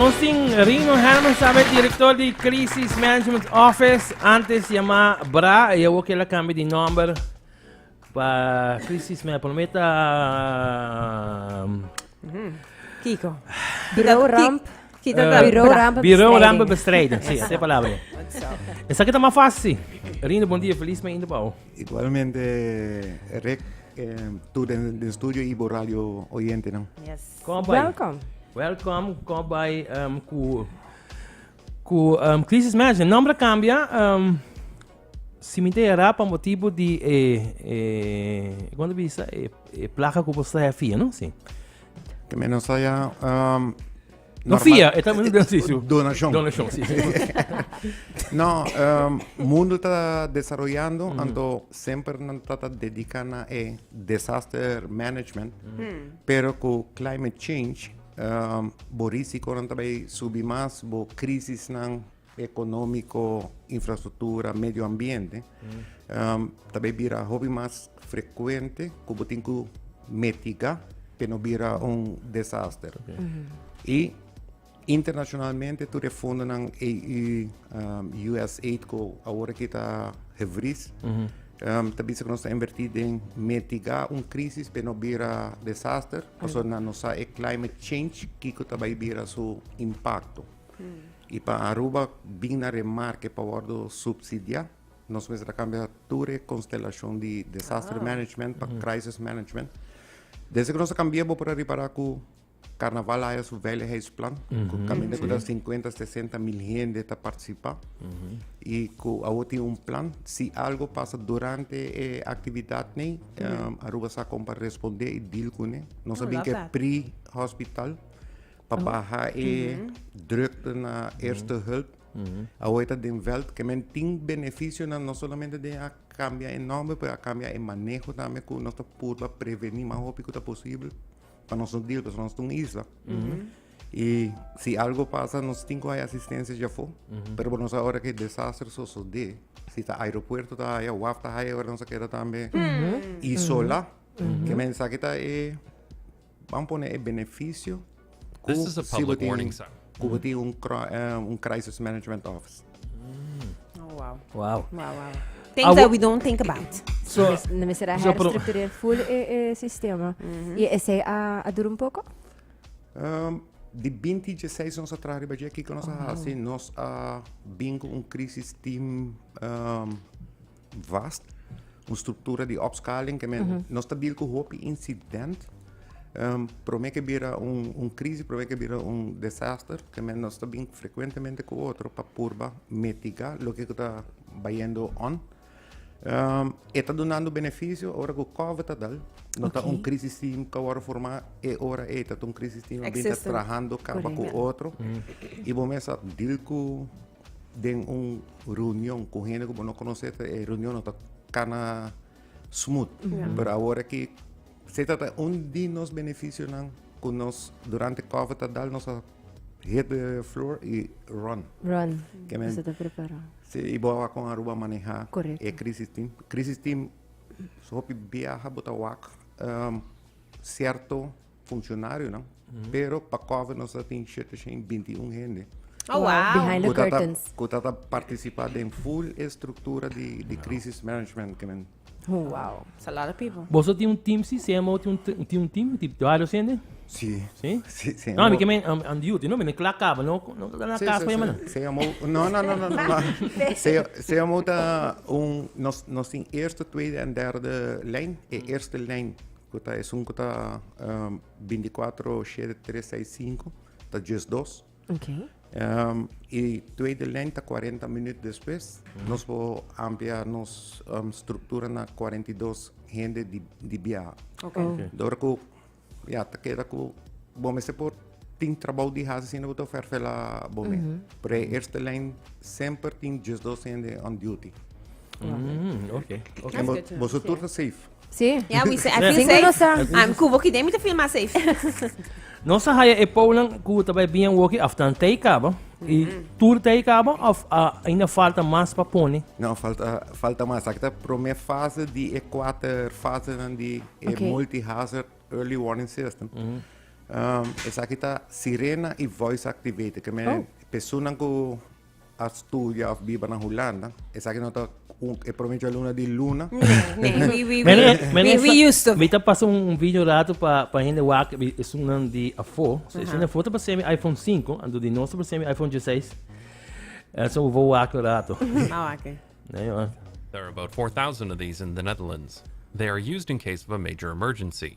Nos tin Rino Hermans tambe, direktor di Crisis Management Office, antes yamá bra, e awor kel a kambia di nòmber pa Crisis Management, por lo menos Kiko. Biro Ramp. Biro Ramp. Biro Ramp Bestrijding, sí, así e palabra e. Esaki ta mas fácil sí. Rino, bon dia, feliz mes inda pa bo. Igualmente Rick, tu den studio y bo radio oyentenan. Welkom. Welkom, Kòbai um, ku ku um, Crisis Management. Nombre kambia. Um, si mi te era pa motivo di e eh, quando bisa e, e placa ku bosta e fia, no? Si. Que menos saya um, No fia, eta mi do si. Donation. Donation, si. no, um, mundo ta desarrollando, mm. anto sempre nan trata dedica na e disaster management. Mm. Pero ku climate change bo risikonan ta bai subi mas, bo krisisnan ekonomiko, infrastruktura, medio ambiente ta bai bira hopi mas frekuente ku bo tin ku mitigá pa e no bira un desaster. Internashonalmente tur e fondonan EU, USAID ku awor aki ta hebris ta bisa ku nos ta invertí den mitigá un krísis p'e no bira desaster pasobra nan no sa e climate change kiko ta bai bira su impakto. I pa Aruba bin na remarke pa wòrdu supsidiá nos mester a kambia tur e konstelashon di desaster management pa krísis management. Desde ku nos a kambia bo por a ripará ku. Karnaval haya su veiligheidsplan ku kaminda ku ta sinkuenta sesenta mil hende ta partisipá i ku awo tin un plan si algu pasa durante e aktividat nei Aruba sa kon pa respondé i dil kuné nos a bin ke pri hospital pa baha e drukte na erste hulp awo e ta den veld ke men tin benefisionan no solamente den a kambia e nòmber pero a kambia e maneho tambe ku nos ta purba prevení mas hopi ku ta posibel. pa nos no deal pues nos un isla mm -hmm. y si algo pasa nos tinko hay asistencia ya fo mm -hmm. pero nos ahora que desastre so so de si ta aeropuerto ta hay waf ta hay ahora nos queda también mm -hmm. y sola mm -hmm. que mensaje ta e vamos poner el beneficio This is a public warning sign. Cuba mm -hmm. un, uh, un crisis management office. Oh, wow. Wow. Wow, wow. Things Awo- that we don't think about. So, No me será so pro- herstructureer full e, e sistema. Y ese a, a dura un poco. Um, di 2016 nos a traha riba dje, kiko nos a hasi? Nos a bin ku un crisis team um, vast, un struktura di opskaling ke men nos ta bil ku hopi insident, prome ke bira un krisis, prome ke bira un desaster, ke men nos ta bin frekuentemente ku otro pa purba mitigá loke ku ta bayendo on. E ta dunando benefisio ora ku kòvid ta dal, no ta un krisis team ke a wòrdu formá e ora ei, ta un krisis team a bin ta trahando kaba ku otro i bo mes a bil ku. Den un reunion ku hende ku bo no konosé ta e reunionnan ta kana smut. Pero awor aki se trata un di nos benefisionan ku nos durante kovid ta dal nos a hit de flor i run. Run. Ke men- Nos a ta prepará. Si i bo a kon Aruba manehá Correcto. e crisis team. Crisis team hopi biaha bo ta wak sierto Funcionarionan, pero pa Cove nos a tin shete shen binti i un hende cu ta ta cu ta ta participa den full e structura di crisis management cu men. Wow, it's a lot of people. Boso tin un team si? CMO tin un tin un team di varios hende? Si. Si? Si, CMO. No, ami ke men am am duty, no men kla kaba, no no ta na kas pa e mana. CMO, no no no no no no. CMO ta un nos nos tin eerste, tweede en derde lijn. E eerste lijn Ku ta esun ku ta bintikwatro shede tres seis sinku ta djes dos. I tweede lèn ta kuarenta minüt despues. Nos por amplia nos struktura na kuarenta i dos hende di biaha. Ora ku ya ta keda ku bo mester por tin trabou di hasi asina bo ta ferfela bo mes. Por e eerste lèn semper tin djes dos hende on duty. Bo su tur ta safe. Sí. Ya, mi se I feel Cinco safe. nos a- I'm Cubo Kidé mi ta feel mas safe. Nos a haya e pounan cu ta bay bien woki after nan tei caba. Y tur tei caba of a ainda falta mas pa pone? No, falta, falta mas. Aki ta prome fase di e kuater fasenan di e Oké. multi-hazard early warning system. Um, esaki ta sirena i voice activated, ke men Oh. pesunnan ku a studia of biba na Hulanda. Esaki no ta un, e prome yo luna di luna. Nee, nee, we, we, Mene, we, mene, we, we used to. Mi ta pasa un, un video rato pa, pa hende wak, bi- es un nan di afo. So, es un afo ta pasé mi iPhone 5, ando di nos ta pasé mi iPhone 16. Eh, so, we wak rato. Nou, oké. Nee, joh. There are about 4,000 of these in the Netherlands. They are used in case of a major emergency.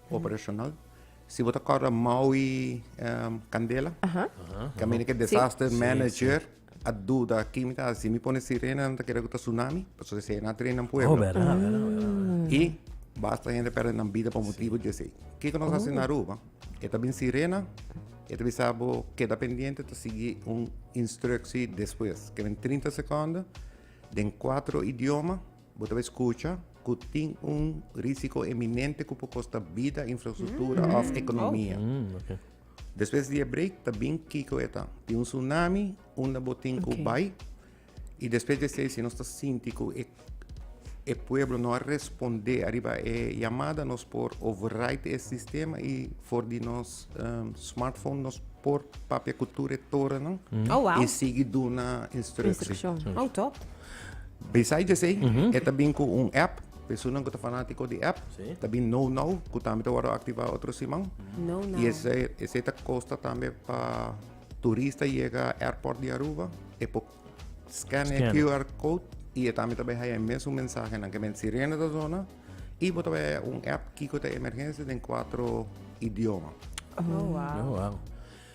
Operacional. Si bo ta corda Maui Candela, cu mi e disaster manager, a duda aki mi ta haci. Mi pone sirena, no ta kere cu ta tsunami, pasobra esey e na train nan pueblo. Oh, verdad, verdad, verdad. Y basta hende perde nan bida pa motibu di esey. Kico nos haci na Aruba? E ta bin sirena, e ta bisa bo keda pendiente, ta sigui un instrucci despues. Ke men trinta secondo, den cuatro idioma. Bo ta bay scucha cu tin un risico eminente cu por costa bida, infrastructura of economia. Despues di e break ta bin kico e ta. Tin un tsunami unda bo tin cu bay y despues di esey si nos ta sinti cu e e pueblo no a responde ariba e yamada nos por override e sistema y for di nos. um, smartphone nos por papia cu tur e torennan mm. oh, wow. e sigui duna instrucción. Mm. Oh, top. Beside de sei, mm -hmm. eta bin cu un app persona que fanático de app, sí. también no no, que también te voy a activar otro simán. No no. Y ese ese te costa también para turista llega airport de Aruba, e por Scan e QR code y e también tabay haya mes un mensaje nan que men sirena ta zona y bo tabay haya un app kiko ta emergencia den cuatro idioma. Oh, oh wow. Oh, wow.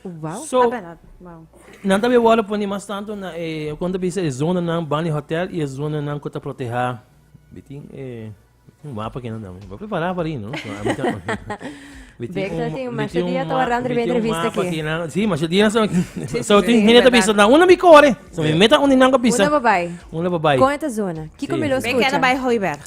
Wow, so, ah, wow. Nan tabi wala poni mas tanto na eh, kon tabi se zona nan bani hotel e zona nan kota proteha. Bitin eh Un mapa que no dame. Voy a preparar para ir, ¿no? Bexa sin masha dia to arran de entrevista aquí. Sí, masha dia so so tin hine ta bisa na una mi core. So mi meta un dinango bisa. Una babai. Una babai. Con esta zona. Kiko mi lo escucha. Me queda bai hoiberg.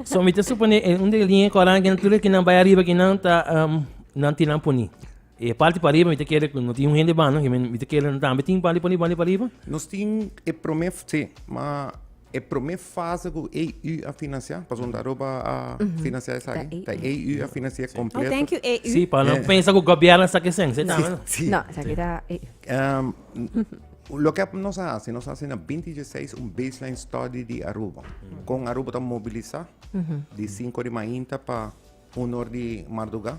So mi te supone un de linha coran que natuurlijk que nan bai arriba que nan ta um nan tinan poni. E parte para arriba, mi te queda no tin un hende bano, mi te queda tambe tin parte para arriba, parte para arriba. Nos tin e promef, sí, ma E prome fase ku AU a finansia, pasobra ta Aruba a finansia esaki, ta AU a finansia kompleto. Oh, thank you AU. Sí, pa nan pensa ku gobièrnu a sa ke sens'e tambe, no? Sí. No, esaki ta AU. Loke nos a hasi, nos a hasi na binti dieseis un baseline study di Aruba. Kon Aruba ta mobilisá di sinku di mainta pa un or di marduga,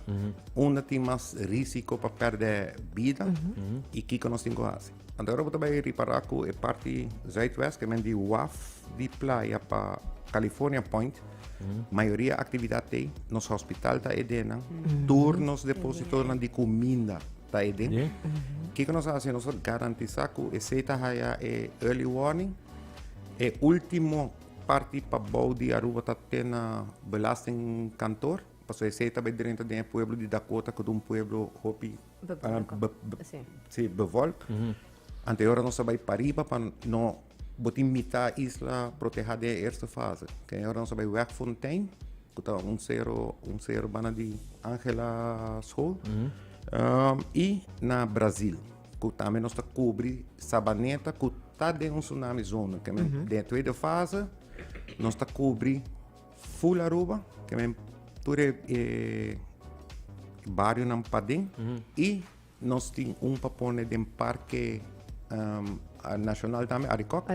unda tin mas risiko pa perde bida i kiko nos tin ku hasi. Anto ahora bo ta bai ripará ku e parti zuidwest, ke men di waf di playa pa California Point, mayoria aktividat t'ei, nos hospital ta edennan, tur nos depositonan di kuminda ta eden. Kiko nos hasi? Nos a garantisá ku esei ta haya e early warning, e último. Parti pa bou di Aruba ta ten na belasting kantor, pasobra esei ta bai drenta den e pueblo di Dakota ku ta un pueblo hopi bevolk. Anterior nos a bai pariba pa no bo tin mita isla proteha den e eerste fase. Ken ora nos a bai wèk Fontein ku ta un sero un sero banda di Angela school i na Brazil. ku tambe nos ta kubri Sabaneta ku ta den un tsunami zona, ke men den e tweede fase nos ta kubri full Aruba, ke men tur e barionan paden i nos tin un pa pone den Parke Nashonal tambe, Arikok.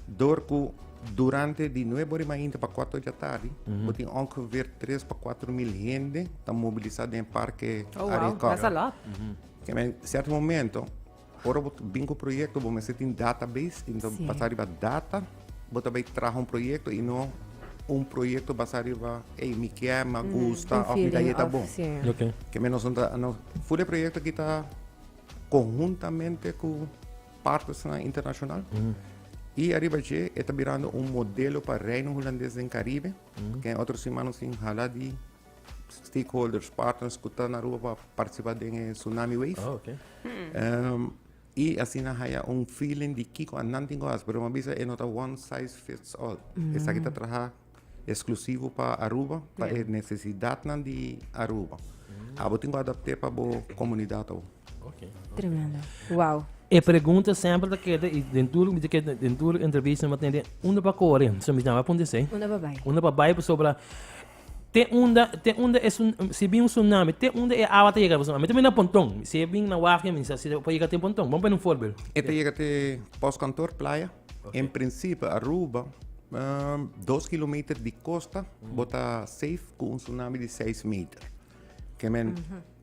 Dor ku durante di nuebe ora i mainta pa kuater ora di atardi bo tin ongeveer tres pa kuater mil hende ta mobilisá den e parke Arie Corner. Ke men sèrto momento ora bo ta bin ku proyekto bo mester tin database i bo ta basá riba data bo ta bai traha un proyekto i no un proyekto basá riba ey mi kier, mi a gusta òf mi ta yeta bon. Ke men nos a ful e proyekto aki ta konhuntamente ku. partnersnan internashonal. I ariba dje e ta birando un modelo pa Reino Hulandes den Karibe. Ke en otro simana nos tin hala di stakeholders, partners ku ta na Aruba pa partisipa den e tsunami wave. I asina haya un feeling di kiko annan tin ku hasi. Pero mi a bisa e no ta one size fits all. Esaki ta traha. Eksklusivo pa Aruba, pa e nesesidatnan di Aruba. Abo tin ku adapt'é pa bo komunidat abo. Tremendo. Wow. E pregunta semper ta keda i den tur mi ta keda den tur entrevista mi ta tende unda pa kore. So mi snaba punti esei. Unda pa bai. Unda pa bai pasobra te unda te unda e sun si bin un sunami te unda e awa ta yega pasobra ami ta bini na ponton si e bin na wak mi sa si por yega te ponton. Bo pone un forbel. E ta yega te pos kantor playa. Okay. En principe Aruba, um, dos kilometer di costa, mm. bota safe con un tsunami di 6 meter. Que men, mm -hmm.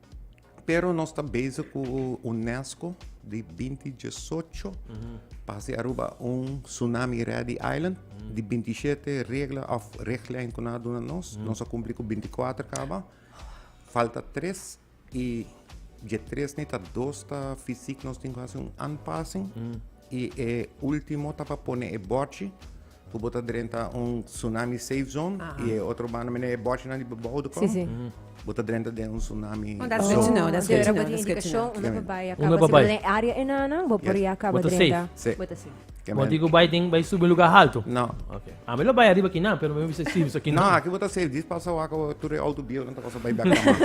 Pero nós está bezig com o Unesco de 2018 uhum. para se Aruba um tsunami ready island uhum. de 27 regras of richtlijn que nós dona nós. Uhum. Nós cumprimos com 24 acaba. Falta 3 Y dje tres ni ta dos ta fisic nos tin cu haci un aanpassing y e ultimo ta pa pone e bordje cu bo ta drenta un tsunami safe zone y e otro banda mende e bordjenan di bebou de con bo ta drenta den un tsunami Con dat zone. Description, description, Deur a bo tin description. indicacion unda pa bai a caba Unda pa bai. drenta den e area enanan bo por ya caba Bo ta drenta. safe. Sí. Bo ta safe. Bo Amen. tin ku bai tin bai subi un lugá haltu? No. Oke. Ah, mi lo bai ariba kinan, pero mi bisa si bisa No, kinan. aki bo ta safe. Dis pasa wak awo tur e auto bieu nan ta kos bai bèk na mas.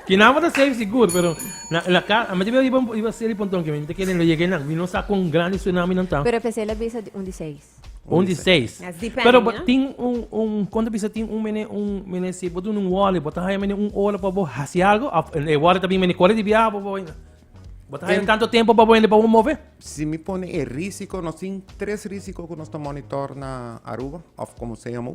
Kinan bo ta safe sigur, pero na na ka a mete mi ariba un- iba seri ponton ke mi ta kere lo yega nan. Mi no sa kon grandi tsunami nan ta. Pero efecel a bisa un di seis. Un di seis. That's depending, Pero bo you know? tin un un kon ta bisa tin un mene un mene si bo duna un wòrdu bo ta haña mene un ora pa bo hasi algu of e wòrdu ta bin mene kore di biaha pa bo. Bo ta haya tanto tempo pa bo hende pa bo move? Si mi pone e risiko, nos tin tres risiko ku nos ta monitor na Aruba of komo sea mo.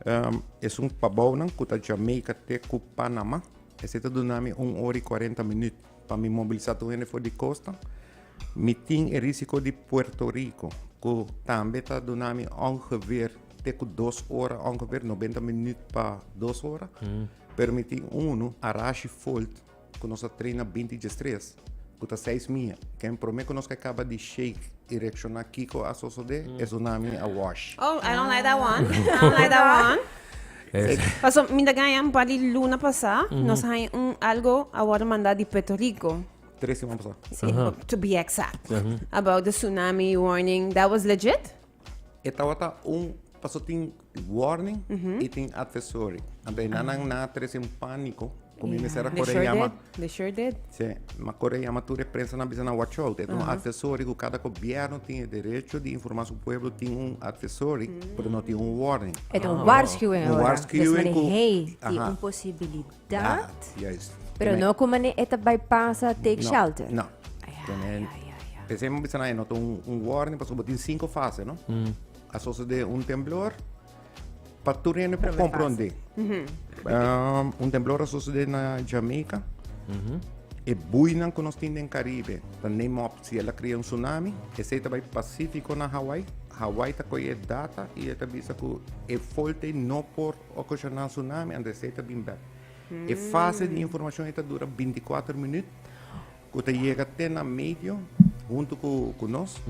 Em, esun pa bounan ku ta Jamaica te ku Panama. Esei ta duna mi un ora i kuarenta minut pa mi mobilisá tur hende for di kosta. Mi tin e risiko di Puerto Rico ku tambe ta duna mi ongeveer te ku dos ora, ongeveer nobenta minut pa dos ora. Pero mi tin unu, Arashi Folt, ku nos a trena binti diestres ku ta seis mia ken prome ku nos ke kaba di shake i reakshoná kiko a sosodé e tsunami a wash. Oh, I don't like that one. I don't like that one. Es Paso mi ta gaña un par di luna pasá, nos haña un algo a wòrdu mandá di Puerto Rico. Tres siman pasá. Sí, to be exact. About the tsunami warning. That was legit? E tawata un paso tin warning y tin advisory. Anto e nannan nan a trece un panico cu mi mester a corre a yama. They sure did. Sí, mi a corre a yama tur e prensa nan a bisa nan watch out. E ta un advisory cu cada gobierno tin e derecho di informa su pueblo tin un advisory, pero no tin un warning. E ta un waarschuwing ora. Des manera hey tin un posibilidad. Dat? Juist. Pero no ku mane e ta bai pasa take shelter? No. P'esei mi a bisa nan e no ta un warning pasobra bo tin sinku fase, no? A sosodé un temblor, pa tur hende por komprondé. Un temblor a sosodé na Jamaica, e buinan ku nos tin den Karibe ta neem òp. Si el a krea un tsunami, esei ta bai Pasífiko na Hawaii. Hawaii ta kohe e data i e ta bisa ku e folt'ei no por. Ocasional tsunami and esey ta bin bek. E fase di informacion ey ta dura binticuater minuut cu ta yega te na medio hunto cu nos,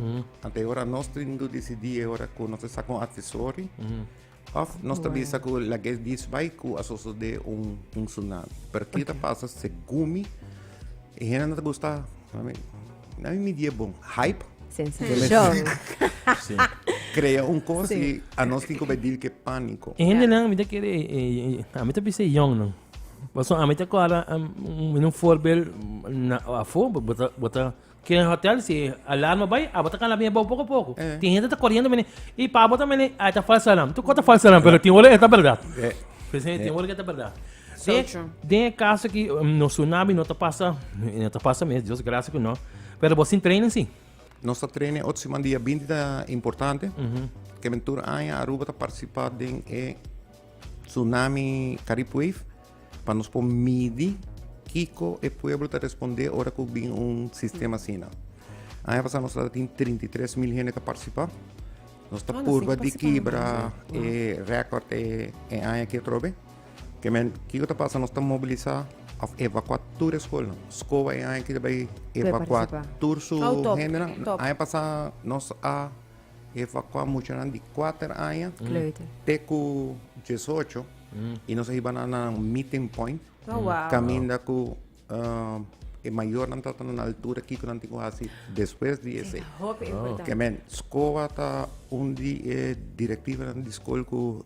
and e ora nos tin do dicidi e ora cu nos ta saca un advisory of nos ta bisa cu lagues disbai cu a sosode un tsunami. Pero ki ta pasa segun mi e hende no ta gusta. Nan mi die bon. Hype. Sensacion. Si. Crea un cos si. y a nos tin cube deal que panico. E hendenan mi ta kere e a mi ta bisa e yongnan pasobra a mi ta acorda un voorbeeld na afo bo ta kere hotel si e alarma bai abo ta cana biña bou poco poco tin hende ta coriendo biña y pabo ta mene a e ta falso alarm tu cor ta falso alarm pero tin ora e ta berdad tin ora e ta berdad. Den, den e caso que um, no tsunami no te pasa, no te pasa mes, Dios gracias que no. Pero vos sin trainen sí. Nos está trainen otro semana día 20 da importante. Mm -hmm. Que mentur aña Aruba te participa den e tsunami Carib Wave. Para nos por midi Kiko e pueblo te responde ora que bin un sistema así. Mm -hmm. Aña pasada nos tin 33 mil gente te participa. Nos está ah, purba de quebra e record e, e aña que trobe. Kiemen, kiko ta pasa? Nos ta mobilisá of evakuá tur e skolnan. Skowa e aña kita bai evakuá tur su hendenan. Aña pasá nos a evakuá muchanan di kuater aña te ku diesocho i nos a hiba nan na nan meeting point kaminda ku Uh, e mayornan ta na altura kiko nan tin ku hasi despues di ese. Hopi ah. importante. Que men, scoa ta un di e directiva nan di school ku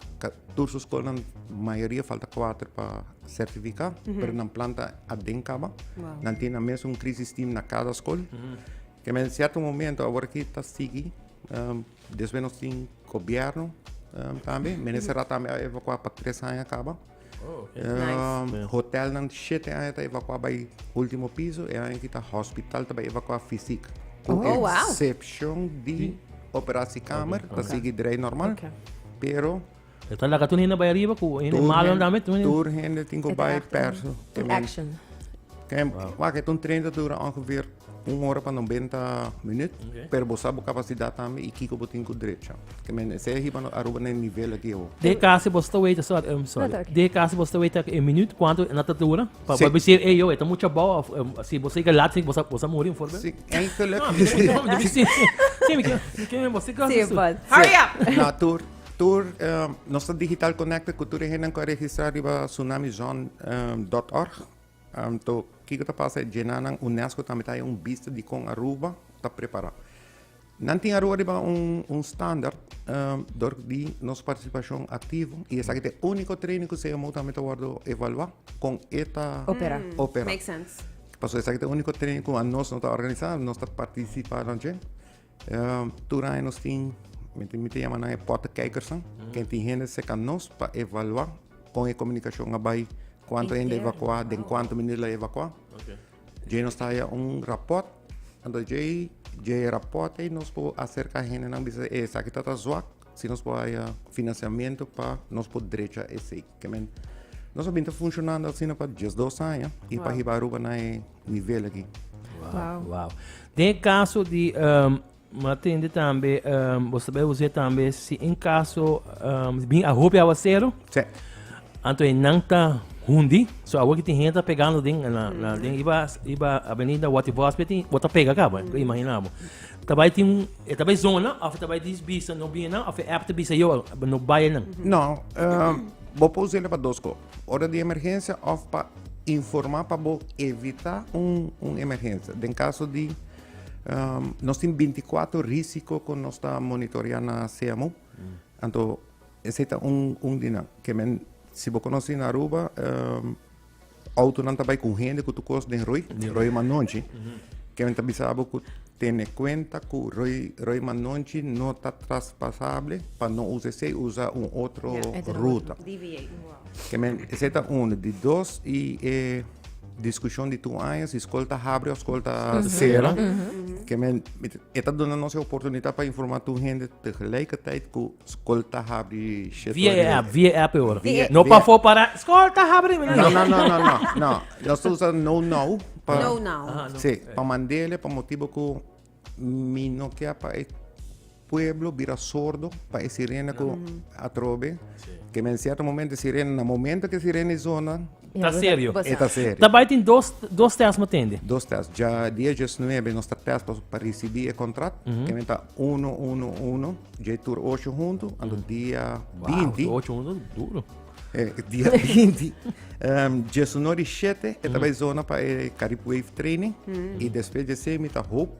tur su school nan mayoria falta cuatro pa certifica, mm -hmm. pero nan planta aden kaba. Wow. Nan tin na mes un crisis team na cada school. Mm -hmm. Que men cierto momento agora ki ta sigi um, después nos tin gobierno um, también, men ese rato también evacuar para tres años acaba. Oh, okay. Um, nice. Hotelnan shete aña ta evakua bai ultimo piso, e aña kita hospital ta bai evakua fisik. Ku oh, wow. exception di operasiekamer, okay. ta sigi drei normal, okay. pero Então lá tu ainda vai arriba com ainda mal andar met tu. Tur ainda tem que vai perto. Action. Kem, wow. Wacht, toen trainen duurde ongeveer Un ora pa nobenta minüt, pero bo sa bo kapasidat tambe i kiko bo tin ku drecha. Ke men esei a hiba Aruba na e nivel aki awo. Dje kasi bo sta weta, sòri, em, sòri. No, ta oke. Dje kasi bo sta weta e minüt kuantu e na ta dura? Pa Si. bo bisa, ey, yo, e ta mucha bao òf em, si bo siga lat, si bo sa, bo sa muri, un voorbeeld? Si, enkele No, mi ken, no, mi ken, si, si, mi ken, mi ken, bo siga, Si, su, su. bòs. Hurry up! Na tur, tur, em, nos ta digital connected ku tur e hendenan ku a registrá riba tsunamizone em, dot org. Anto, kiko ta pasa? E djenanan Unesco tambe ta haya un bista di kon Aruba ta prepara. Nan tin Aruba riba un standaard dor di nos partisipashon aktivo i esaki ta e úniko training ku CMO tambe ta wòrdu evaluá kon e ta opera. Pasobra esaki ta e úniko training ku anos no ta organisá, anos ta partisipá na dje. Uh, tur aña nos tin, mi te, mi te llama nan e potekijkersnan, mm. ken tin hende seca nos pa evaluar con e comunicación a bay, cuánto hende evacuar, den cuánto minuut la evacuar. Okay. Jay nos trae un rapport, ando jay, jay rapport e nos po acerca hende nan bisa, eh, sa kita ta zwak, si nos po haya financiamiento pa nos po drecha ese, que men, Nós vimos funcionando assim para 12 anos e para riba Aruba na nivel aki. Wow. wow. Den e caso di um, matende tambe um, vos sabe usted tambe si en caso um, bin a hopi aguacero. Sí. Anto e nanta hundi, so awo kiti henta pegando den na, na mm. den iba iba avenida Wati Hospital, wata pega ka, mm. imaginamo. Tabai tin, e tabai zona of tabai dis bisa no bien na of e app bisa yo no baie na. No, uh, bo pose le pa dos ko. Ora di emergensia of pa informa pa bo evita un emergensia. Den kaso di nos tin binticuatro risiko ku nos ta monitorea na CMU, anto esei ta un di nan. Ke men, si bo konosí na Aruba, outonan ta bai ku hende ku tur kos den roi, roi manonchi, ke men ta bisa bo ku. Tene cuenta cu Rey Manonchi no ta traspasable pa no usa esey, usa un otro ruta. Esey ta uno. Di dos y e discusion di two aña si scol ta habri of scol ta cera. E ta duna nos e oportunidad pa informa two hende tegelijkertijd cu Skol ta habri shetoria. Via e app, via e app e ora. Via- No via- pafó pará, skol ta habri. No, no, no, no, no, no. Nos ta usa no now. pa- No now. Aha, no. Sí, pa mandele, pa motibo cu mi no kier pa e pueblo bira sordo pa e sirena cu atrobe. Ke men cierto momento e sirena, na momento ke e sirena e zona, Ta serio. E ta serio. Ta bai tin dos, dos test mo tende. Dos test. Dja dia diesnuebe nos ta test pa, pa risibi e kontrakt. Ke men ta uno, uno, uno. Dje tur osho huntu. Anto dia Wow, binti, tu ocho uno duro. eh, dia binti, em, diesuno di shete e ta bai zona pa e Carib Wave Training. I despues di esei mi ta hoop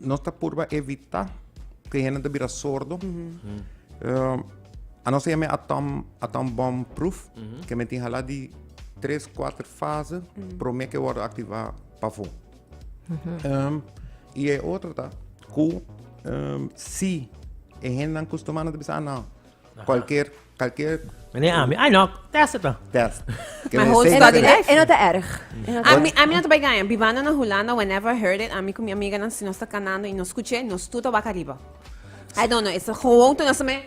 Nos ta purba evitá ku e hende ta bira sordo. Anos ta yama e atom atom bom pruf, ke men tin hala di tres, kuater fase promé ke wòrdu aktivá pafó. I e otro ta ku si e hendenan kustumá nan ta bisa a nan kualker. Kalkier. Meneer Ami. Ai no, test het dan. Test. Mijn hoofd En dat, en, en dat is erg. En dat is Ami, ami no te bai gaya. Bivando na Hulanda, whenever I heard it, ami ku mi amiga nan, si nos ta kanando i nos skuché, nos tur ta wak ariba. I don't know, esa gewoon tur nos ta me,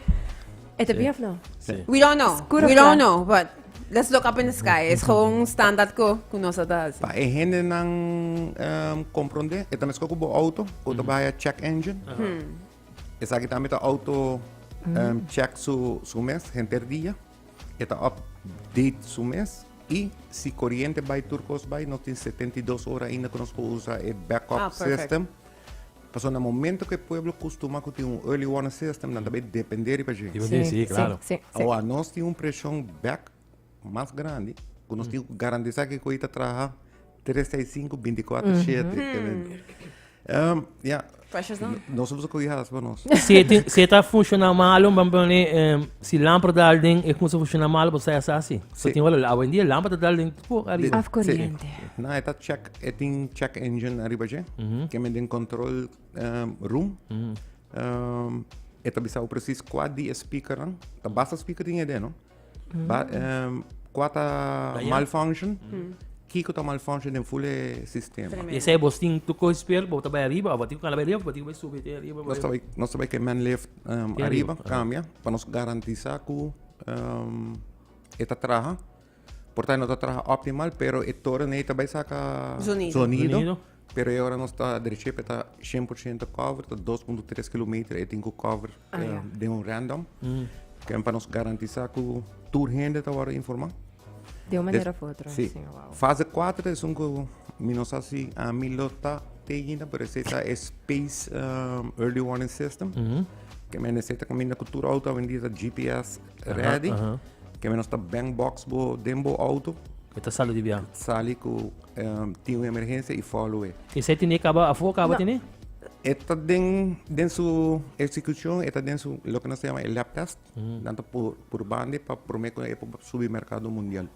E te bief no? we don't know, Skuro we don't fla. know, but let's look up in the sky. Es gewoon un standaard ku, ku nos ta hasi. Pa e hende nan ehm, comprende, e ta mesco cu bo auto, cu ta baya check engine. Esaki tambe ta auto um, check su, su mes henter dia. E ta update su mes. I si corriente bay tur cos bay, nos tin 72 ora ainda que nos por usa e backup ah, system. Paso na momento que pueblo costuma que tiene un early warning system, dan também depender de gente. Sí, sí, claro. Sí, sí, sí. Ahora, nos tiene un presión back mas grandi cu nos tin cu garantisa cu e cochi ta traha tres seis cinco binti cuatro shete. Um, yeah. Precious no? No somos cochi hadas pa nos. Se tin, se ta funciona malo, vamos poner, um, si lámpara dal den, e cosa funciona malo, pues sai asa así. So tin wala, hoy en día lámpara dal den, po arriba. Af corriente. Na, e ta check, e tin check engine arriba je, que men den control um, room. Um, e ta bisa precies cua di e speaker, ta basta speaker tin e den, no? Ba, um, qua ta malfunction? Kiko ta malfunction den full e sistema? Tremendo. Esa é bos tin tu coi spel, bo ta bai arriba, bo tin con la bai arriba, bo tin bai subi te arriba. Nos ta bai, nos ta bai ke man lift um, Te arriba, arriba. cambia, pa nos garantisa cu um, e ta traha. Por ta no ta traha optimal, pero e toren ei ta bai saca Zonido. Zonido. Pero e ora nos ta dereché pa e ta shen por shento cover, ta dos punto tres kilometer e tin ku cover Ah, ya. eh, den un random. Ken pa nos garantisá ku tur hende ta wòrdu informá. De un manera Des- of otro. Sí. Sí, wow. Fase 4 ta esun ku mi no sa si ami lo ta teken, pero esei ta e space um, early warning system. Ke menester ta kaminda ku tur outo hoy en dia ta GPS ready. Keme nos ta bank box bo den bo auto. E ta sali di biaha. Sali ku um, tin un emergensia i follow e. Esei tene kaba afo kaba tene? E ta den, den su eksekushon, e ta den su loke nos ta yama e lab test. Tanto por, por bande pa promé ku e por subi merkado mundial.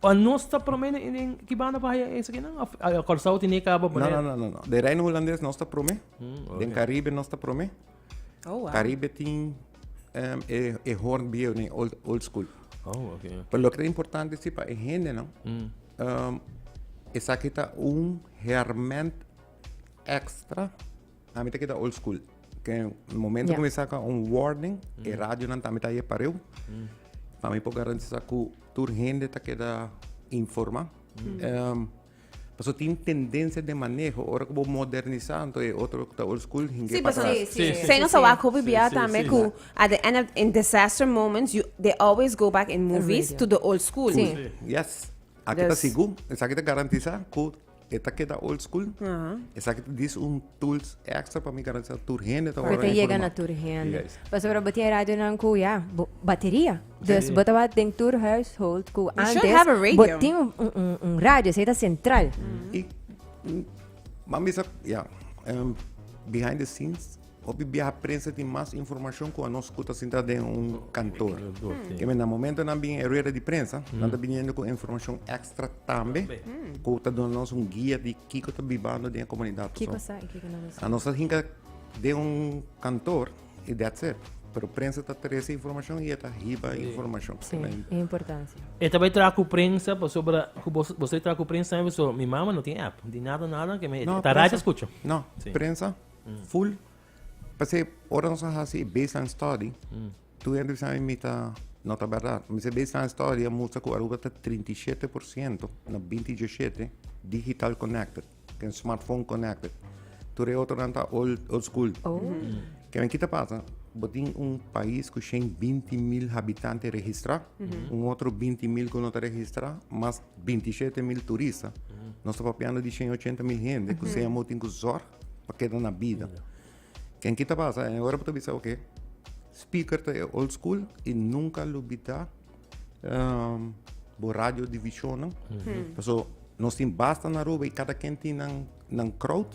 Pa nos ta prome den ki banda pa haya esakinan of Corsou tene ke kaba poner? No no no no. Den Reino Hulandes nos ta prome. Den Caribe nos ta prome. Caribe tin e horn biew ne old school. Pero loke ta importante si pa e hendenan esaki ta un herment extra Ami ta keda old school. Ke momento ku mi saka un warning, e radionan tambe ta e pareu. Pa mi por garantisá ku tur hende ta keda informá. Paso tin tendensia den maneho, ora ku bo modernisá, anto e otro ku ta old school hinga e pa atras. Sí, sí, sí. Esei nos a wak hopi bia tambe ku at the end of, in disaster moments, you, they always go back in movies to the old school. Sí. Yes. Aki ta sigu. Esaki ta garantisá ku. E ta keda old school. Esaki ta dis un tools extra pa mi garantia tur hende ta ora yega na tur hende. Yes. Paso pero bo tin radionan ku ya bateria. Dus si. bo ta wak den tur household ku antes. You should have a radio. Bo tin un, un, un radio, esaki ta sentral. Mm. I mami sa, ya, behind the scenes. Hopi bia prensa tin mas informashon ku anos ku ta sintra den un kantor. Ke men na momento nan bini e rueda di prensa, nan ta biniendo ku informashon ekstra tambe ku ta duna nos un guia di kiko ta bibando den e komunidat pasobra. Ki kosa i kiko nan bisa? Anos ta hinka den un kantor i dats it. Pero prensa ta trese informashon i e ta hiba informashon. Si, e importansia. E ta bai traha ku prensa pasobra ku bos bo bai traha ku prensa tambe pasobra mi mama no tin app. No tin nada nada ke men ta radio skucha. No, prensa. Full. P'esei, ora nos a hasi e baseline study, tur hende bisa mi mi ta, no ta berdad. Mi se baseline study a mustra ku Aruba ta trinta i shete por siento na binti dioshete digital connected, den smartphone connected. Tur e otronan ta old old school. Kinan ki ta pasa? Bo tin un pais ku shen binti mil habitante registrá, un otro binti mil ku no ta registrá, mas binti shete mil turista. Nos ta papiando di shen ochenta mil hende ku se amo tin ku zòrg pa keda na bida. Ken kita basa en ora bo ta bisa oke, speaker ta e old school i nunka lo bida um, bo radio divisionan. Mm -hmm. Paso nos tin basta na Aruba i kada ken tin nan, nan crowd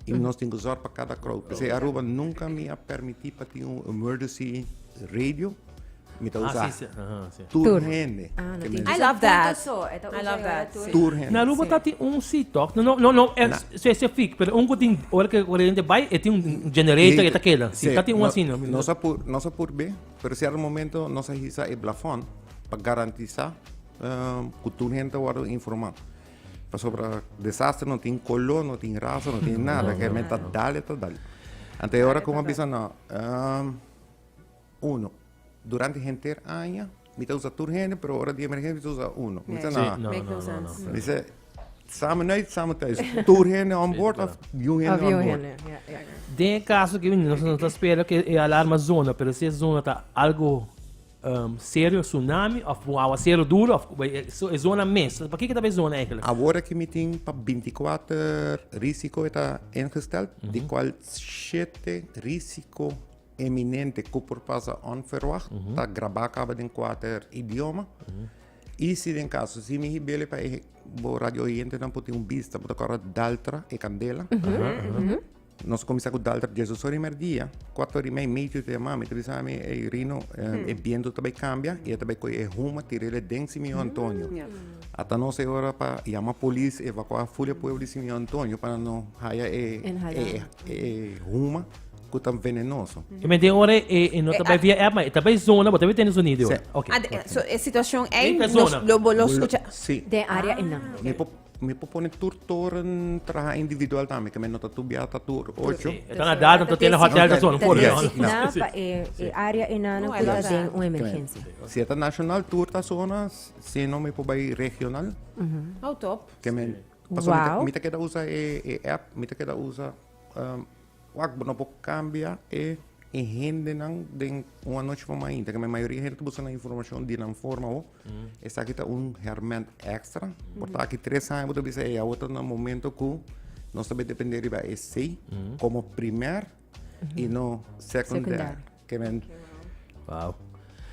i nos tin zorg pa kada crowd. Pese Aruba nunka mi a permiti pa tin un emergency radio. Mi ta usa tur hende. I love that. I love that. Tur hende. Na Aruba ta tin un seat toch? No, no, no specific, pero un ku tin ora ke hende bai e tin un generator e ta keda. Si ta tin un asina. Nos a por be, pero cierto momento nos a hisa e plafon pa garantisa ku tur hende ta wòrdu informa. Pasobra desastre no tin koló, no tin rasa, no tin nada. Kèmen ta dal e ta dal. Anto e ora ku mi a bisa, no. uno. Durante henter aña mi ta usa tur hende, pero ora di emergensia mi ta usa uno. Mi ta na. Mi se samen nuit, samen thuis. Tur hende on board of you hende on board. Den caso que nos no ta spera que e alarma zona, pero si e zona ta algo um, serio, tsunami, of un agua serio duro, of e zona mes. Pa que que ta e zona eigenlijk? Awor que mi tin pa 24 risico eta ingesteld, mm -hmm. di qual 7 risico eminente ku por pasa onverwacht ta grabá kaba den kuater idioma. I si den kaso si mi hibele pa e bo radio oyentenan por tin un bista, bo ta kòrda Daltra e Kandela. Nos a kuminsá ku Daltra dies oso rimer dia. Kuat ora imei Mitio ta yamami, ta bisa mi, Ey Rino, e bientu ta bai kambia i e ta bai koyo e huma tir'el aden Simeon Antonio. Ata nos e ora pa yama polis evakuá ful e pueblo di Simeon Antonio pa nan no haya e huma. cu ta venenoso. E men den ora e no ta bai via app, ma e ta bai zona, bo ta bai tene zonido. Sí. Ok. Ah, de- so e situacion ei Ei ta nos zona. lo bo lo Lo- scucha. Sí. Den area ei nan. Mi por, mi por pone tur toren traha individual tambe, que men no ta tubia ta tur ocho. Sí. E ta na data, ta tene hotel, ta zona, por Yes. ejemplo. Designa Sí. pa e e area ei nan No, cu ta yes. den un emergencia. Si e ta nacional, tur ta zona, si no mi por bai regional, Oh, top. que men... Paso mi ta, Wow. mi ta keda usa e, e app, mi ta keda usa um, Wak bo no por cambia e hendenan den un anochi por mainta keme mayoria hende ta buska nan informacion di nan forma ho esaki ta un herment extra por ta aki tres aña bo ta bisa ey awo ta na momento ku nos ta depende riba esei como primer y no secundair. Kemen. Wow.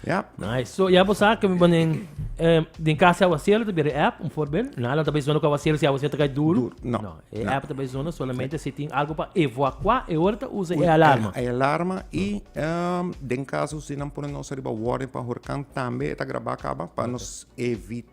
Yep. Nice. So, ya vos sabe que me ponen eh, den casa agua cielo te bere app, un voorbeeld. Nou, laat daarbij zonnen agua cielo, si agua cielo te duro. Duro, no, No, e no. app daarbij zonnen solamente si tin algo pa evacuar, e ora te usa e alarma. E alarma y ehm, den caso si nan pone nos arriba warning pa horkan tambe eta graba caba pa nos evita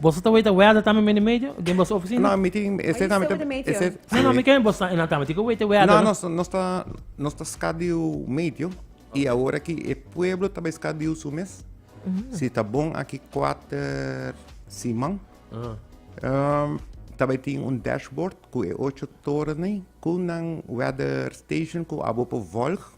Boso ta weta wea da tambe mende medio den boso oficina? No, mi tin ese tambe ta ese No, no, mi ken boso ta ena tambe tin ku wete wea da. No, nos nos ta nos ta skadiu medio i awor aki e pueblo ta bai skadiu su mes. Si ta bon aki kuater siman ta bai tin un dashboard ku e ocho torennan ku nan weather station ku abo por volg.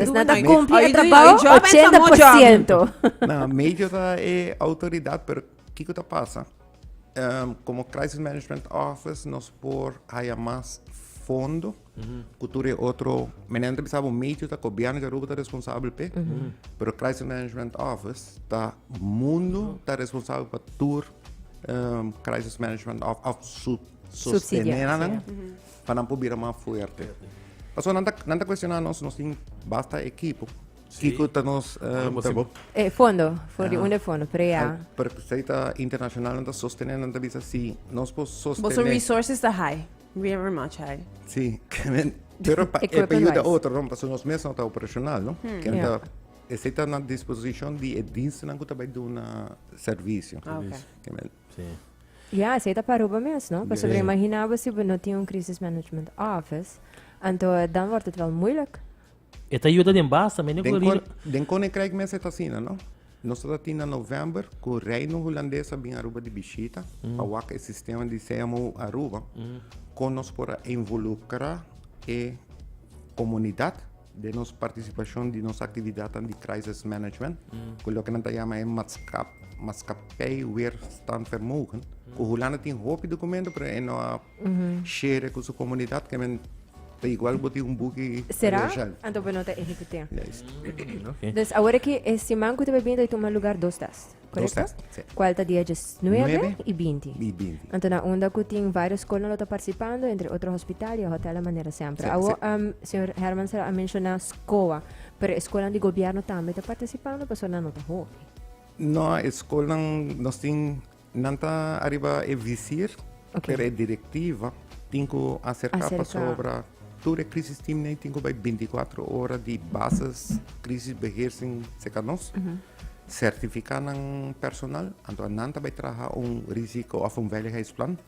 Esnan ta cumpli e trabao ochenta por ciento. Na, major ta e autoridad, pero kico ta pasa? como Crisis Management Office nos por haya mas fondo cu tur e otro, menen nan ta bisa bo major ta Gobierno di Aruba ta responsabel p'e, pero Crisis Management Office ta mundo ta responsabel pa tur Crisis Management of, of su, su, sustene nan. pa nan por bira mas fuerte. Paso nan ta, nan ta cuestionar nos, nos tin basta equipo. Sí. Kiko ta nos uh, Bobo. Eh, fondo, voor die onder fondo, PREA. Per se ta internacional nan ta sostener, nan ta bisa si nos po sostener. Boso resources ta high, very much high. Sí, pero pa, e pa ayuda otro, no, paso nos mes no ta operacional, no? Hmm. Que yeah. ta está na disposición de diensten que está dando servicio. Ah, okay. Ya, esei ta pa Aruba mes, no? Pasobra yeah. imagina bo si bo no tin un crisis management office, anto dan wordt het wel moeilijk. Het ayuda den baas también den gobierno. Den koninkrijk mes het asina, no? Nos ta tin na november ku Reino Holandesa bin Aruba di bishita mm. pa wak e sistema di CMO Aruba mm. kon nos por involucra e comunidad Den nos partisipashon di nos aktividatnan di Crisis Management, ku loke nan ta yama e Maskapei Weerstandvermogen, ku Hulanda tin hopi dokumentu pero e no a share ku su komunidat, ke men ta igual ku bo tin un buki universal. Sera? Anto bo no ta ehekut'é. Yes. Okay. Dus awor aki e siman ku ta bai bini ta bai tuma lugar dos das. Correcto? Dos test, sí. Cual ta dia 19 Nueve. y 20. Y binti. Anto na onda ku tin varios scholen lo ta participando, entre otro hospital y a hotel a manera siempre. Sí, Awo, sí. um, señor Herman Sera a menciona SCOA, pero escolan di gobierno tambe ta participando, paso na no ta hopi. No, e school nan, nos tin, nan ta arriba e visir, Ok. pero e directiva tin ku acerca, Acerca. pasobra tur e crisis team nei tin ku bai 24 ora di bases, crisis beheersing, seca nos. sertifica nan personal, anto nan ta bay traha un risico of un veiligheidsplan,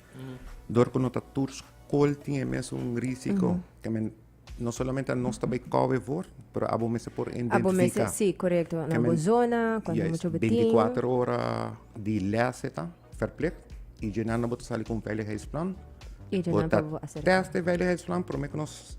door cu no ta tur school tin e mes un risico, ke men no solamente a nos ta bay cover voor, pero abo mester por identifica. Abo mester, si, correcto, na bo zona, con e mucho betin. Juist, 24 ora di les e ta verplicht, y dje nan abo ta sali cu un veiligheidsplan, bo ta test e veiligheidsplan, prome cu nos.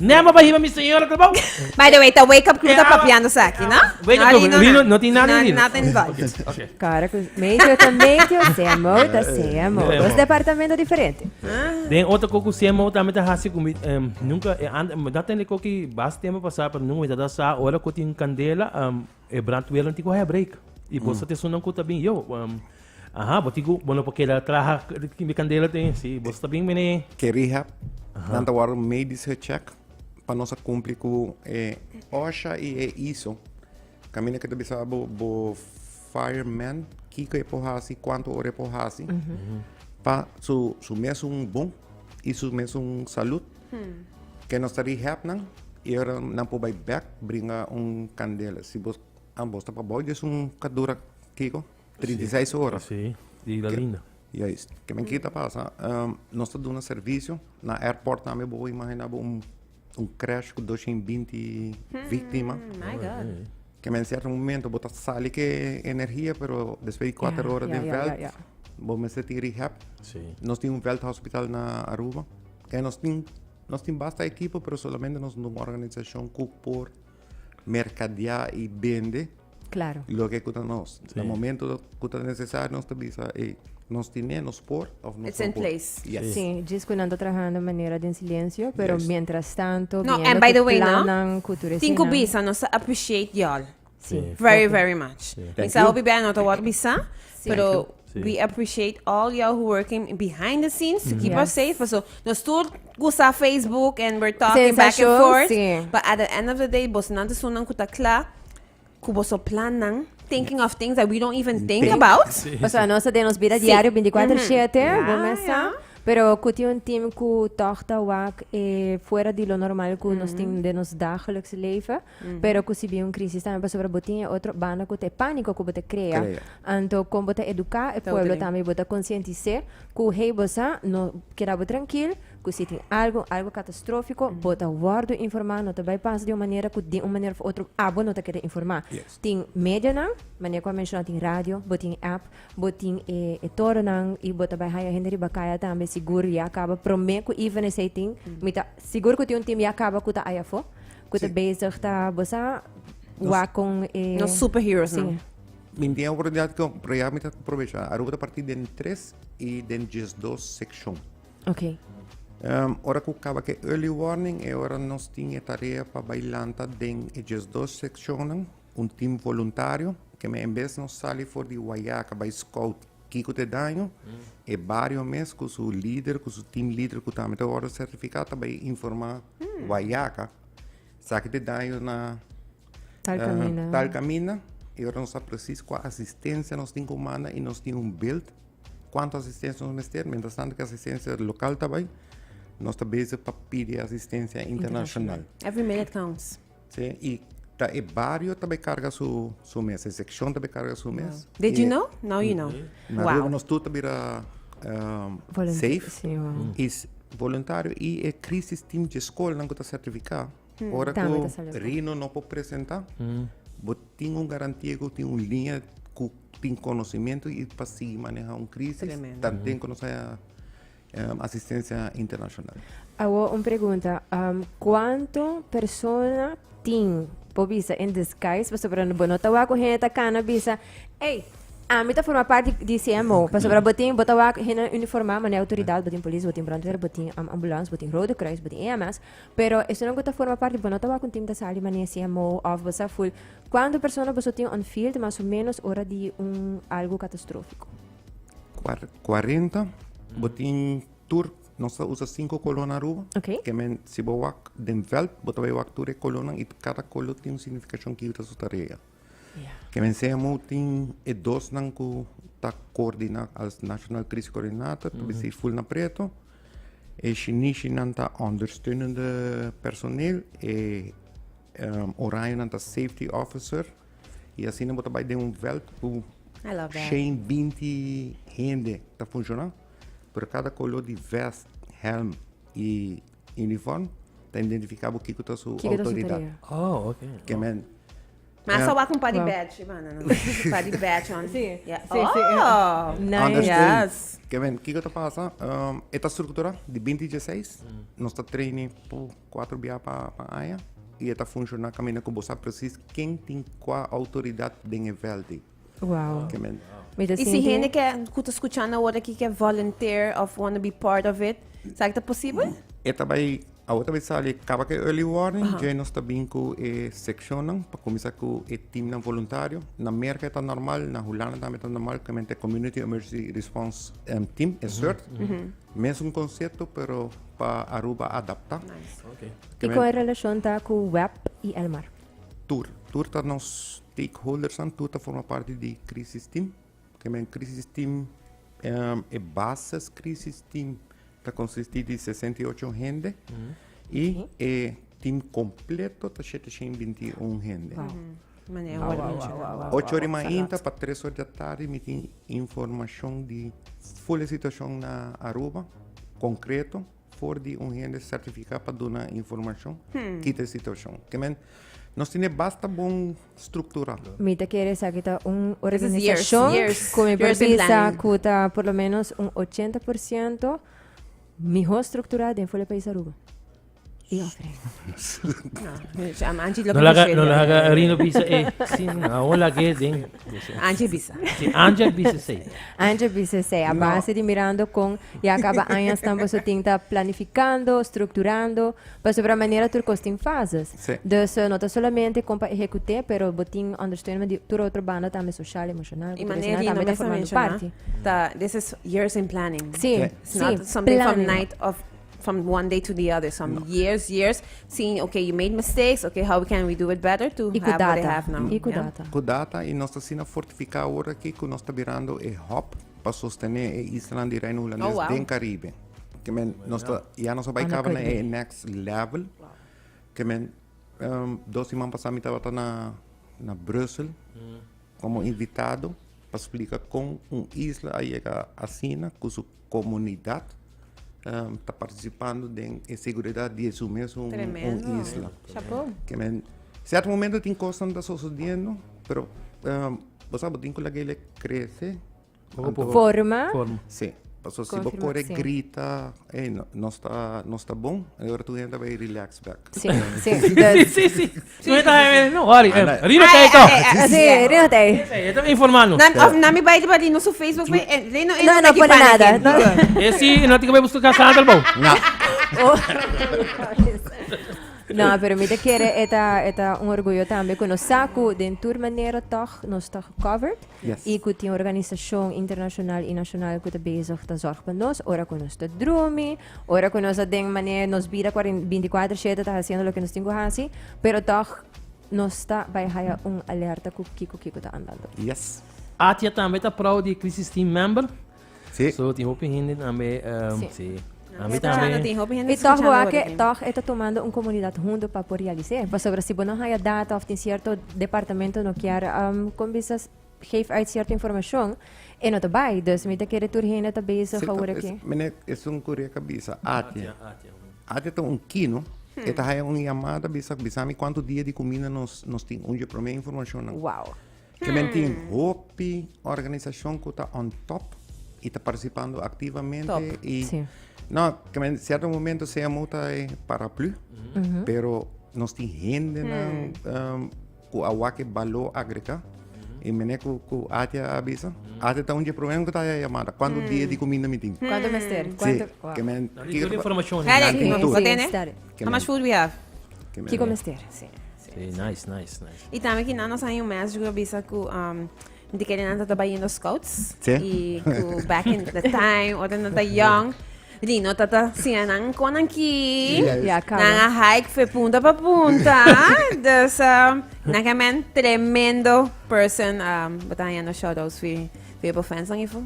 Nema pa hiba mi señora Clebao. By the way, ta Wake Up Crew ta papiando saki, no? Wake Up Crew, Rino, no tin nada Rino. Nothing involved. Okay. Cara cus medio ta medio, CMO ta CMO. Dos departamento diferente. Den otro coco CMO tambe ta hasi cu mi, nunca, eh, anda, dat ten de coki bas tempo pasa, pero nunca mi ta da sa, ora cu tin candela, um, E brandweer nan tin ku hairbrake. I bo sa te sunan ku ta bin yo. Um, aha, bo tin ku bo no por keda traha tin mi kandela te. Si bo sa ta bin mene. Ke rehab. Nan ta wòrdu medisch gecheck pa nos a kumpli ku e OSHA i e ISO. Kaminda ke ta bisa bo bo fireman kiko e por hasi, kuantu ora e por hasi pa su su mes un bon i su mes un salut. Hmm. Ke nos ta rehab nan i ora nan por bai bek bringa un kandela si bos a bos ta pa bou des un kadura kiko 36 ora si di la linda juist ke men kita pasa um, nos ta duna servicio na airport tambe bo imagina bo un un crash ku 220 hmm, víctima my god ke men certo momento bo ta sali ke energia pero después de 4 horas den veld bo men se tin rehab nos tin un veld hospital na Aruba Kende nos tin? Nos tin basta ekipo pero solamente nos un organisashon ku por merkadeá i bende loke ku ta nos. Na momentu ku ta nesesario nos ta bisa ey nos tin ne, nos por òf nos no por. It's in place. Si, djis ku nan ta trahando manera den silensio pero mientras tanto viendo ku plannan ku tur esei nan. Tin ku bisa nos ta appreciate yòl. Sí. Very, very much. Sí. Thank Misa you. hopi bia no ta wak bisa, Sí. pero Thank you. Sí. we appreciate all y'all who working behind the scenes to keep us Yes. safe. So, nos tur gusa Facebook and we're talking back and Sensation, forth. sí. But at the end of the day, bos nan te sunan ku ta kla, ku boso plan nan, thinking of things that we don't even think Think. about. O sea, no de nos vida Sí. diario 24/7, Mhm. Yeah, bo mesa. yeah. Pero kuti un team ku toch ta wak eh, fuera di lo normal ku nos tin de nos dagelijks leven. Pero ku si bin un krisis tambe pasobra bo tin e otro banda ku ta e pániko ku bo ta krea. Krea. Anto kon bo ta eduká e pueblo tambe i bo ta konsientis'é ku hey bo sa no keda bo trankil ku si tin algu algu katastrófiko bo ta wòrdu informá no ta bai pasa di un manera ku di un manera òf otro abo no ta keda informá. Yes. Tin medianan manera ku a menshoná tin radio bo tin app bo tin e e toronan i bo ta bai haña hende riba kaya tambe sigur ya kaba promé ku even esei tin mi ta sigur ku tin un tim ya kaba ku ta aya afó. Cu te bezig ta bosa wa con e... No superheroes, no. Min tiene oportunidad que proyecto mi ta aprovecha. Aruba ta partir den 3 y den 12 sección. Ok. Um, ora cu caba que early warning, e ora nos tiene tarea pa bailanta den e 12 seccionen, un team voluntario, que me en vez nos sali voor die wayaka bij scout Kiko ta e daño? E bario mes ku su lider, ku su team leader ku tambe ta wòrdu sertifiká ta bai informá Guayaca sa ki ta e daño na tal kaminda i ora nos sa presis kua asistensia nos tin ku manda i nos tin un bilt kuantu asistensia nos mester. Miéntras tantu ku e asistensia lokal ta bai nos ta bezig pa pidi asistensia internashonal. Sí, y ta e bario ta bay carga su su mes, e seccion ta bay carga su mes. Did you know? Now you know. Na Aruba wow. nos tu ta bira um, safe. Sí, wow. Y voluntario y e crisis team de school nan ta certifica. Hmm. Ora ko Rino no po presenta, hmm. bo tin un garantia ko tin un linha ku tin conocimiento y pa si maneja un crisis, tan tin ko no sa asistencia internacional. Awor un pregunta, um, cuánto persona tin por bisa en disguise, pasobra bo no tawa con gente cana bisa, hey, a mí te forma parte de CMO, pasobra bo tin, bo tawa gente uniformada, mané autoridad, bo tin polis, bo tin brandweer, bo tin um, ambulance, bo tin rode kruis, bo tin EMS, pero eso no go ta forma parte, bo no tawa con team ta sali mané CMO of bo sa full. Cuánto persona bo so tin on field, mas o menos ora di un algo catastrófico? 40 bo tin tur nos ta usa cinco colon aruba okay. que men si bo wak den veld bo ta wak tur e colon y cada colon tin un significacion que ta su tarea yeah. que men sea mo tin e dos nan ku ta coordina als national crisis coordinator mm -hmm. full na preto e shinishi nan ta ondersteunende personeel e um, oranje nan ta safety officer Y asina bo ta bai den un veld cu cien, binti hende ta funciona, pero cada color di vest, helm y uniform ta identifica bo kico ta su autoridad. Ma aso wak un par di badge i banda, no? Un par di badge on. Si, si, si. Oh! Understand. Kico ta pasa? E ta structura di binti dieseis. Nos ta traini pu. Kuater bia pa aña y e ta funciona caminda cu bo sa precies ken tin cua autoridad den e veldi. Wow. Y si hende ke cu ta scuchando awor aki ke volunteer of wanna be part of it, sa ke ta posibel? E ta bay, awor ta bay sali caba cu e early warning, dje nos ta bin cu e seccionnan pa cuminsa cu e teamnan voluntario. Na Merca e ta normal, na Hulanda tambe e ta normal, community emergency response team, e sort. Mesun konsepto pero pa Aruba adaptá. Ki kon e relashon ta ku web i Elmar? Tur. Tur ta nos stakeholdersnan. Tur ta forma parti di Krisis Tim. Ke men Krisis Tim, e bases Krisis Tim ta konsistí di sesenta i ocho hende i e tim kompleto ta shete shen binti i un hende. Ocho ori mainta pa tres ori di atardi mi tin informashon di ful e situashon na Aruba, konkreto, for di un hende sertifiká pa duna informashon, kita e situashon. Ke men, nos tin e basta bon struktura. Mi ta kere esaki ta un organisashon ku mi por bisa ku ta por lo menos un ochenta por siento mihó strukturá den ful e pais Aruba. Tin ofrenda. No laga, no laga Rino bisa ei. Sí, no, awor laga e den. Angie bisa. Sí, Angie a bisa esei. Angie bisa esei. A base di mirando con ya caba aña asnan boso tin ta planificando, structurando, pasobra manera tur cos tin fases. Sí. Dus no ta solamente con pa ehecute, pero bo tin understeunement di tur otro banda tambe, social, emocional, Y cultural, manera esnan Rino tambe ta mester formando menciona, parti. ta, this is years in planning. Sí, It's sí, not something from planning. night of from one day to the other, some no. years, years, seeing, okay, you made mistakes, okay, how can we do it better to y have data. what they have now. Y yeah? data. Ku data, y nos asina fortifica ahora ki ku nos ta birando e hop pa sostener e isla di Reino Holandés oh, wow. den Caribe. Que men, nos ta, ya nos bai cabo na e next level. Wow. Que men, um, dos iman pasado mi tabata na, na Brussel, mm. como invitado, pa explica con un isla a llega asina, ku su Comunidad ta participando den e seguridad di esun mesun isla. Certo momento tin cosnan ta sosodiendo, pero bo sabe bo tin cu laga elec crece. Forma. Si, pasobra si bo core grita, ey, nos ta bon, e ora tur hende ta bay relax bek. Si, si. Nan ta haña mester no worry em. Riba tei to. Si, riba tei. Esei, e ta informa no. Nan of nan mi bai riba di noso Facebook p'e e rei no e no taki pana ken. No, no pone nada. E si e no tin ke bai buska Cassandra el bou. Na. No, pero mi ta kere e ta e ta un orguyo tambe ku nos sa ku den tur manera tog nos ta covered i ku tin organisashon internashonal i nashonal ku ta bezig ta zorg pa nos ora ku nos ta drumi, Ora cu nos a den manera e nos bida cuaren- binticuater shete ta haciendo loke nos tin cu haci, pero tog nos ta bay haya un alerta cu kico kico ta andando. Yes. Atia tambe ta prou di Crisis Team member. Sí. So tin hopi hende tambe ehm, Sí. sí. Nos Ami escuchando tambe. tin, hopi hende Y toch escuchando boa ora que tin. toch e ta tomando un comunidad hundo pa por realice. Pasobra si bo no haya data of tin cierto departamento no kier ehm, con bisa geef uit cierto informacion e no ta bay dus mi ta kere tur hende ta bezig a hoor aki. Mene esun cu riek a bisa Atia Atia ta un kino e ta haya un yamada bisa bisami cuanto dia di cuminda nos nos tin un dje prome informacion nan wow e men tin hopi organisacion cu ta on top y ta participando activamente y no ke men cierto momento sea muta e paraplu pero nos tin hende nan ku a wak e baló agregá. I mene ku, ku Atia a bisa, Atia ta un dje promé un ku ta haya yamada, kuantu dia di kuminda mi tin? Kuantu mester? Si, Kuantu? Wow. ke men Nan tin tur e informashon. Nan Kare, tin tur. Bo tene? Stari. How much food we have? Ke men- Kiko mester? Si. Si, nice, nice, nice. I tambe kinan nos a haya un message ku ta bisa ku um, Di kende nan ta tabayendo scouts. Sí. Y cu back in the time, ora nan ta young. Lino ta ta siña nan con nan ki. Yes. Ya, cabo. Nan a hike fe punta pa punta. dus, um, nan ke men tremendo person. Um, bota yendo shout outs fi, fi e fans nan ifo.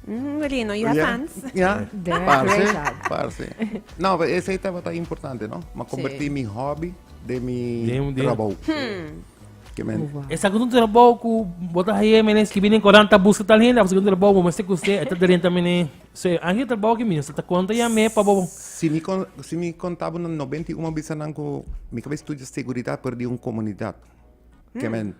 Mm, Lino, you have Ja, fans. Ja, Damn, great parce, job. parce. No, pero ese estaba tan importante, no? Ma convertí Sí. mi hobby de mi De un- de un- trabajo. Esaki es un trabou ku bo ta haye mene skibi den korant ta buska tal hende a hasi un trabou bo mester kusé e ta drenta mene so e anhel trabou aki mi mester ta konta ya me pa bo Si mi kon si mi konta bo na nobenta i un a bisa nan ku mi kaba studia seguridat por di un komunidat kemen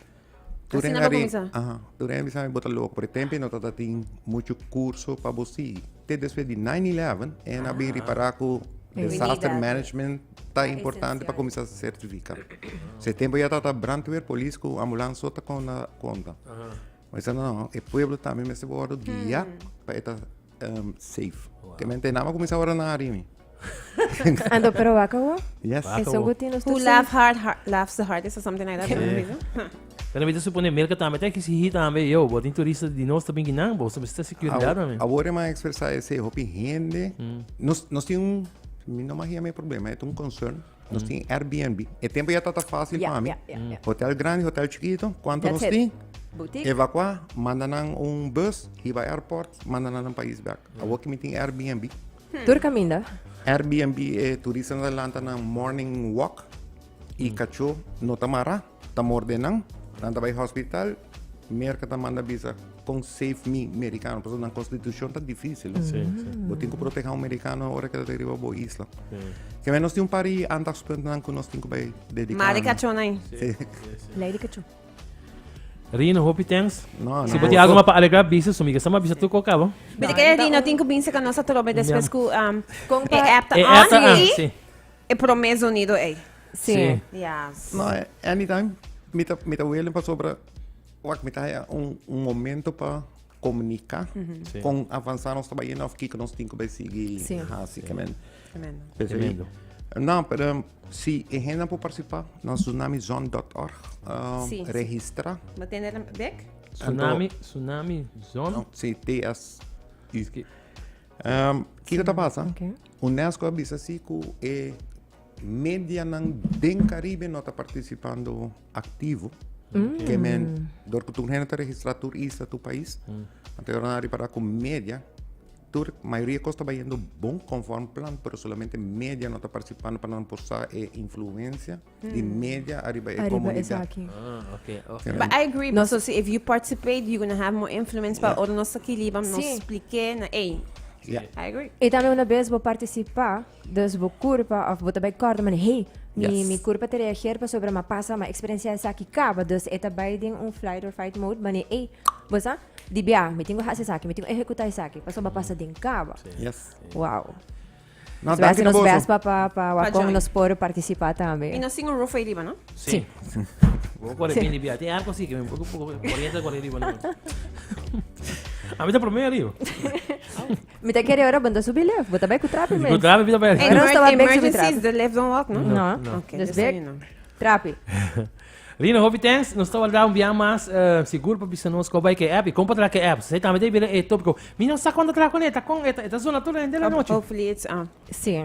tur den a rin aha tur den a bisa mi bo ta loko por e tempo no tabatin muchu kurso pa bo sigui te despues di nine eleven e na bin ripara ku disaster management ta importante pa cominsá certifica. Se tempo ya ta brandweer, polis cu ambulance so ta conda conta. Ma dice no, e pueblo también mester wordo guia pa eta um, safe. Wow. Que mente nama cominsá wordo na arimi. Ando pero waka wo? Yes. Eso go tiene usted. Who laugh hard, hard laughs the hardest or something like that. Yeah. Pero mi ta suponé Mirka tambe ta exigí tambe, yo, bo tin turista di nos ta bin guinan, bo su mester securidat tambe. Awor e m'a expresá esei, hopi hende, nos, nos tin un, mi no m'a yama e problema, e ta un concern, nos tin Airbnb, e tempu ya tabata fácil pa mi, hotel grandi, hotel chikitu, kuantu nos tin, evakuá, manda nan un bus hiba airport, manda nan nan pais bèk, awor ku mi tin Airbnb. Tur kaminda. Airbnb e turistanan ta lanta nan morning walk i kachó no ta mará. Ta morde nan, nan ta bai hospital, Merca ta manda bisa con save mi Mericano, pasobra nan constitucion ta dificil. Bo tin cu proteha un Mericano ora que ta den riba bo isla. Keme nos tin un par di andagspuntnan cu nos tin cu bai dedica Mar di nan. cachon ahí. Lei di cachon. Rino, hopi thanks. No, no. Si bo tin algo mas pa alegra bisa, sumi ke sa mas bisa tur cu a caba. Bisa ke Rino tin cu binse ca nos atrobe despues cu um, e app ta E app ta on on, y sí. e promes unido ey. Sí. Sí. Ya. No, eh, anytime mi ta, mi ta willing pasobra wak mi ta haya un, un momento pa comunica Sí. con avanzar nos trabajo of kiko nos tinko bay sigui Sí. hasi kemen. Tremendo. Pues ahí- Tremendo. No, pero si e henda por participar, no tsunamizone.org, um, Sí, sí. registra. Wat tiene de bek? Tsunami, tsunami, zon. No, sí, TS. Es que- Um, kiko ta pasa? Oké. UNESCO bisa si ku e Medianan den Caribe no ta participando activo, ke men door cu tur hende ta registra tur isla, tur pais. Anterior nan a repara cu media, tur mayoria cos taba yendo bon conform plan, pero solamente media no ta participando pa nan por sa e influencia di media ariba e comunidad. No, so si if you participate you gonna have more influence pa ora nos ta kiliba nos splike na ey. I agree. I tambe una bes bo participa, Dus bo curpa of bo ta bay corda man hey, mi, yes. mi curpa te reageer pasobra ma pasa ma experiencia esaki caba. Dus eta bay den un flight or fight mode bane hey, bosa di bia, mi tingo hasi esaki, mi tingo ejecuta esaki, pasobra pasa den caba. Yes. Wow. No, so dank nos best pa pa pa wakon nos por participa tambe. Mi no singo roof ay riba, no? Si. Sí. Bo corre sí. bini bia. Tem arco si que mi corriente corre riba. A mí te promé arriba. Mi ta kere ora bo ta subi lef, bo ta bai ku trapi mes. Ku trapi mi ta bai. Ora nos ta bai bek subi trapi. the left don't walk, no? No. no. Okay, dus so you know. Trapi. Rina, hopi thanks. Nos ta warda un biaha mas uh, sigur pa bisa nos ko bai ke app. I kom pa tra ke app. Sei tambe te bira e topiko. Mi no sa kon ta tra kon e ta kon e ta zona tur hende la noche. Hopefully it's uh. Si.